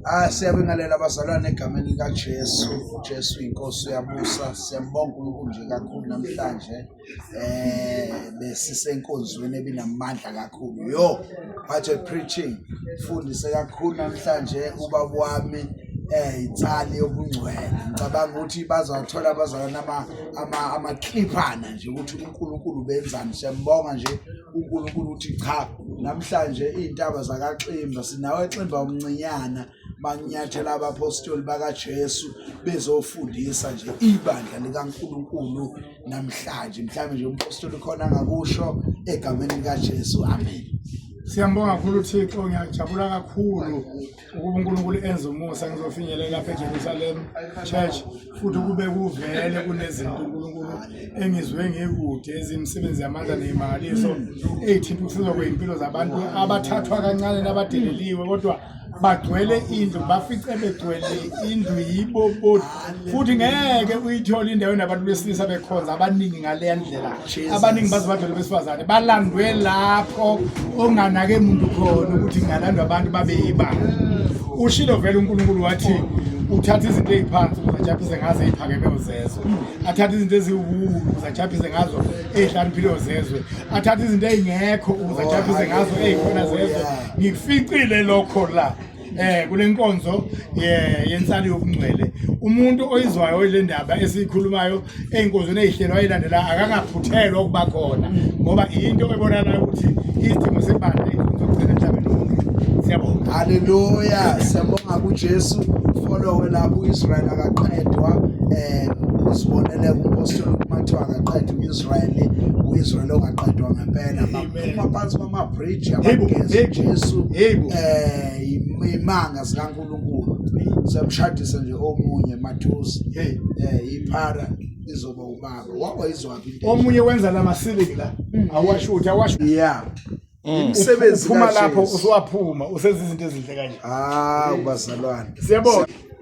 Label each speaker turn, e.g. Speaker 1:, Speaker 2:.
Speaker 1: Ah siyabingelela abazalwane egameni likaJesu. UJesu inkosi uyabusa. Siyambonga uNkulunkulu nje kakhulu namhlanje. Eh besisenkonzweni ebinamandla kakhulu. Yo, what a preaching. Fundise kakhulu namhlanje ubaba wami eh ithali yobungcwele ngicabanga ukuthi bazawuthola abazalwana ama ama amacliphana nje ukuthi uNkulunkulu benzani siyambonga nje uNkulunkulu uthi cha Namhlanje iy'ntaba zakaXimba sinawo eXimba umncinyana banyathela abapostoli bakaJesu bezofundisa nje ibandla likaNkulunkulu namhlanje mhlawumbe nje umpostoli khona angakusho egameni likaJesu amen Siyambonga kakhulu
Speaker 2: uThixo ngiyajabula kakhulu ukuba uNkulunkulu enze umusa ngizofinyelela lapha eJerusalem church futhi kube kuvele kunezinto uNkulunkulu engizwe ngikude ezimisebenzi yamandla nemali so eyithinta ukusizwa kwezimpilo zabantu abathathwa kancane nabadeleliwe kodwa bagcwele indlu bafice begcwele indlu yibo futhi ngeke uyithole indawo enabantu besilisa bekhonza abaningi ngaleya ndlela abaningi baze bavele besifazane balandwe lapho onganake muntu khona ukuthi ngalandwa abantu babeyiba ushilo vele unkulunkulu wathi uthatha izinto eziphansi uzajaphise ngazo eziphakeme uzezwe athatha izinto eziwulu uzajaphise ngazo ezihlaniphile uzezwe athatha izinto ezingekho uzajaphise ngazo ezikhona zezwe ngificile lokho la eh kule nkonzo yensali yokungcwele umuntu oyizwayo le ndaba esiyikhulumayo ey'nkonzweni ey'hlelo ayilandela akangaphuthelwa ukuba khona ngoba into ebonakalayo ukuthi isidingo sebandla inkonzo yokugcina emhlabeni wonke siyabonga haleluya
Speaker 1: siyabonga kujesu folowe lapho u-israyeli akaqedwa um uzibonele kumpostoli kumathiwa akaqedwa u-israyeli u-israyeli ongaqedwa ngempela phuma phansi kwamabhriji abageze Jesu eh imanga zikaNkulunkulu siyamshadisa nje omunye mathusi hey eh iphara izoba ubaba wawayizwaphi into omunye wenza lamasibili
Speaker 2: la mm. awasho ukuthi awasho yeah mm.
Speaker 1: imisebenzi
Speaker 2: phuma lapho usuwaphuma usenza izinto
Speaker 1: ezinhle
Speaker 2: kanje ah ubazalwane siyabona